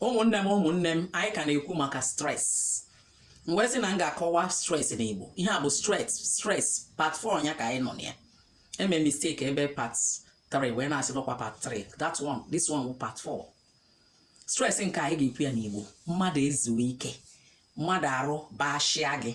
ụmụnne m ụmụnne m anyị ka na-ekwu maka stress m wee sị na m ga-akọwa stress n'Igbo ihe a bụ stress stress part 4 ya ka anyị nọ na ya eme mistake ebe part 3 wee na-asị dọkwa part 3 that one this one part 4 stress nke anyị ga-ekwu ya n'Igbo mmadụ ezuo ike mmadụ arụ bashịa gị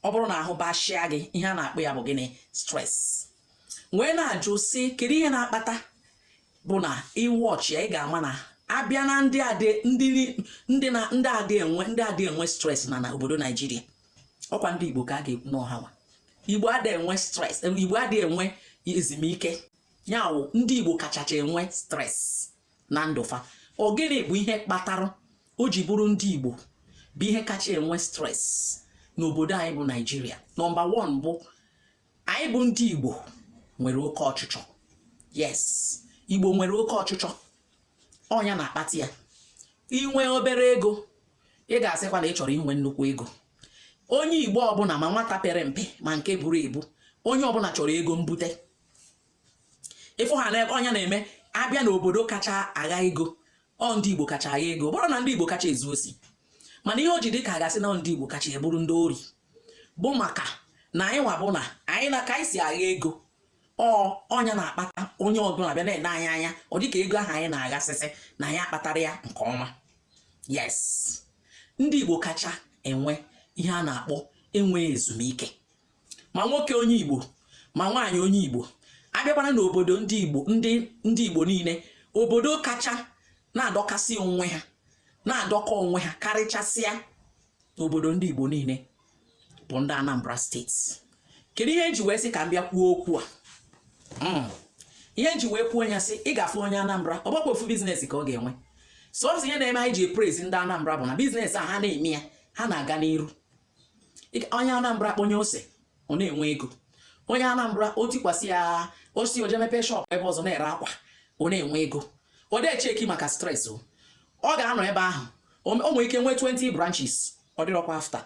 ọ bụrụ na ahụ bashịa gị ihe a na-akpọ ya bụ gịnị stress wee na-ajụ sị kedu ihe na-akpata bụ na ị watch ya ị ga-ama na a bịa na ndị adị ndị ndị na ndị adị enwe ndị adị enwe stress na na obodo naijiria ọkwa ndị igbo ka a ga-ekwu na ọ ha nwa igbo adị enwe stress igbo adị enwe ezumike ya wụ ndị igbo kachacha enwe stress na ndụ fa ọ gịnị bụ ihe kpatara o ji bụrụ ndị igbo bụ ihe kacha enwe stress n'obodo anyị bụ naijiria number one bụ anyị bụ ndị Igbo nwere oke ọchịchọ yes Igbo nwere oke ọchịchọ ọ nya na-akpata ya i nwe obere ego ị ga-asịkwa na ị chọrọ inwe nnukwu ego onye Igbo ọbụla ma nwata pere mpe ma nke buru ibu onye ọbụla chọrọ ego mbute ị fụ ha na ọ nya na-eme a bịa n'obodo kacha agha ego ọ ndị Igbo kacha agha ego bụrọ na ndị Igbo kacha ezu osi mana ihe o ji dị ka a ga-asị na ndị Igbo kacha bụrụ ndị ori bụ maka na anyị nwa bụ na anyị na ka anyị si agha ego ọ ọ nya na-akpata onye ọbụla bịa na-ene anyị anya ọ dịka ego ahụ anyị na-aghasịsị na anyị akpatarọ ya nke ọma yes ndị Igbo kacha enwe ihe a na-akpọ enwe ezumike ma nwoke onye Igbo ma nwaanyị onye Igbo a bịakwara n'obodo ndị Igbo ndị ndị Igbo niile obodo kacha na-adọkasị onwe ha na-adọkọ onwe ha karịchasịa n'obodo ndị Igbo niile bụ ndị Anambra state kedu ihe m ji wee sị ka m bịa kwuo okwu a hmm. ihe m ji wee kwuo ya sị ị ga-afụ onye Anambra ọ bụrọkwa ofu business ka ọ ga-enwe sọsọ ihe na-eme anyị ji e-praise ndị Anambra bụ na business a ha na-eme ya ha na-aga n'iru onye Anambra kpọnye ose ọ na-enwe ego onye Anambra o tikwasị ya o si o je mepee shop ebe ọzọ na-ere akwa ọ na-enwe ego ọ dị e-check maka stress o ọ ga-anọ ebe ahụ o nwee ike nwee 20 branches ọ dịrọkwa after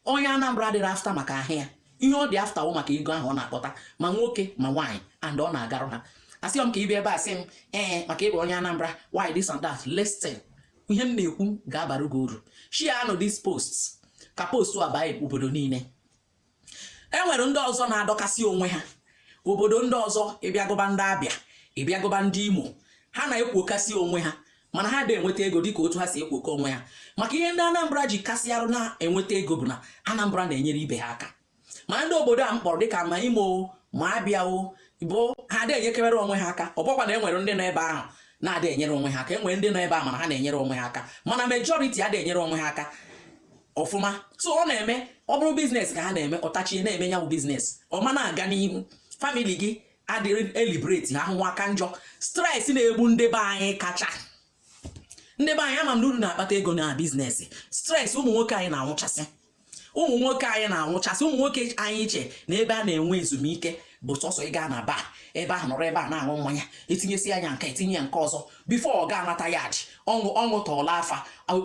onye Anambra adịrọ after maka ahịa ya ihe ọ dị after wụ maka ego ahụ ọ na-akpata ma nwoke ma nwaanyị and ọ na-agarụ ha asịghị m ka ị bịa ebe a sị m ee maka ịbụ onye Anambra why this and that listen ihe m na-ekwu ga-abara gị uru share nụ this post ka post a baa obodo niile e nwere ndị ọzọ na-adọkasị onwe ha obodo ndị ọzọ ị bịa gụba ndị abia ị bịa gụba ndị imo ha na-ekwokasị onwe ha mana ha da-enweta ego dịka otu ha si ekwokọ onwe ha maka ihe ndị anambra ji kasịarụ na-enweta ego bụ na anambra na-enyere ibe ha aka ma ndị obodo a m kpọrọ dịka ma imo ma abịa o bụ ha adịghị enyekebere onwe ha aka ọ bụkwa na e nwere ndị nọ ebe ahụ na-adị enyere onwe ha aka e nwere ndị nọ ebe a mana ha na-enyere onwe ha aka mana majority adịghị enyere onwe ha aka ọfụma so ọ na-eme ọ bụrụ business ka ha na-eme ọ tachie na-eme ya bụ business ọ ma na-aga n'ihu family gị adịrị e liberate ha ahụhụ aka njọ stress na-egbu ndị be anyị kacha ndị be anyị ama m na unu na-akpata ego na business stress ụmụ nwoke anyị na-anwụchasị ụmụ nwoke anyị na-anwụchasị ụmụ nwoke anyị chee na ebe a na-enwe ezumike bụ sọsọ ị gaa na bar ebe ahụ nọrọ ebe a na-aṅụ mmanya e tinyesịa ya nke e tinye ya nke ọzọ before ọ ga-anata yard ọ ṅụ ọ ṅụtoola afọ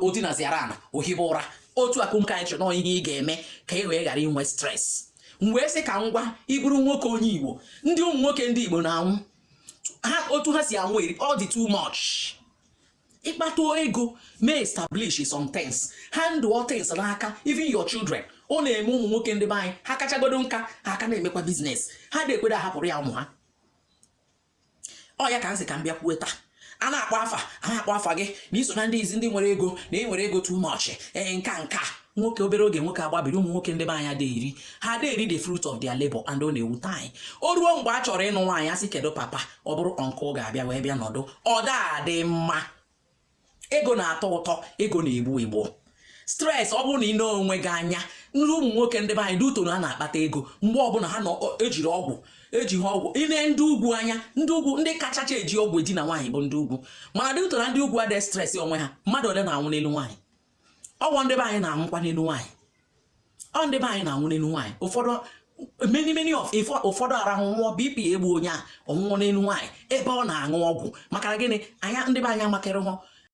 o dinaziara ana o hibe ụra otu akụmka anyị chọrọ ihe ị ga-eme ka ị wee ghara inwe stress m wee sị ka m gwa ị bụrụ nwoke onye igbo ndị ụmụ nwoke ndị igbo na-anwụ ha otu ha si anwụ eri ọ dị too much ị kpata ego mee establish some things hand over things n'aka even your children ọ na-eme ụmụ nwoke ndị be anyị ha kachagodo nka ha aka na-emekwa business ha adị ekwere ahapụrụ ya ụmụ ha ọ ya ka m sị ka m bịa kwuo taa a na-akpọ afa a na-akpọ afa gị na i so na ndị izi ndị nwere ego na ị nwere ego too much ee nka nka nwoke obere oge nwoke agbabiri ụmụ nwoke ndị be anyị adị eri ha adị eri the fruit of their labor and ọ na-ewute anyị o ruo mgbe a chọrọ ịnụ nwaanyị a sị kedu papa ọ bụrụ uncle ga-abịa wee bịa nọdụ ọ da adị mma ego na-atọ ụtọ ego na-egbu egbu stress ọ bụrụ na ị ne onwe gị anya nri ụmụ nwoke ndị be anyị due to na a na-akpata ego mgbe ọbụla ha ejiri ọgwụ eji ha ọgwụ i ne ndị ugwu anya ndị ugwu ndị kachacha eji ọgwụ edina nwaanyị bụ ndị ugwu mana due to na ndị ugwu adịghị stress onwe ha mmadụ ole na-anwụ n'elu nwaanyị ọ bụ ndị be anyị na-anwụkwa n'elu nwaanyị ọ ndị be anyị na-anwụ n'elu nwaanyị ụfọdụ many many of ụfọdụ arahụ nwụọ bp egbu onye a ọ nwụọ n'elu nwaanyị ebe ọ na-aṅụ ọgwụ maka gịnị anya ndị be anyị amakịrị hụ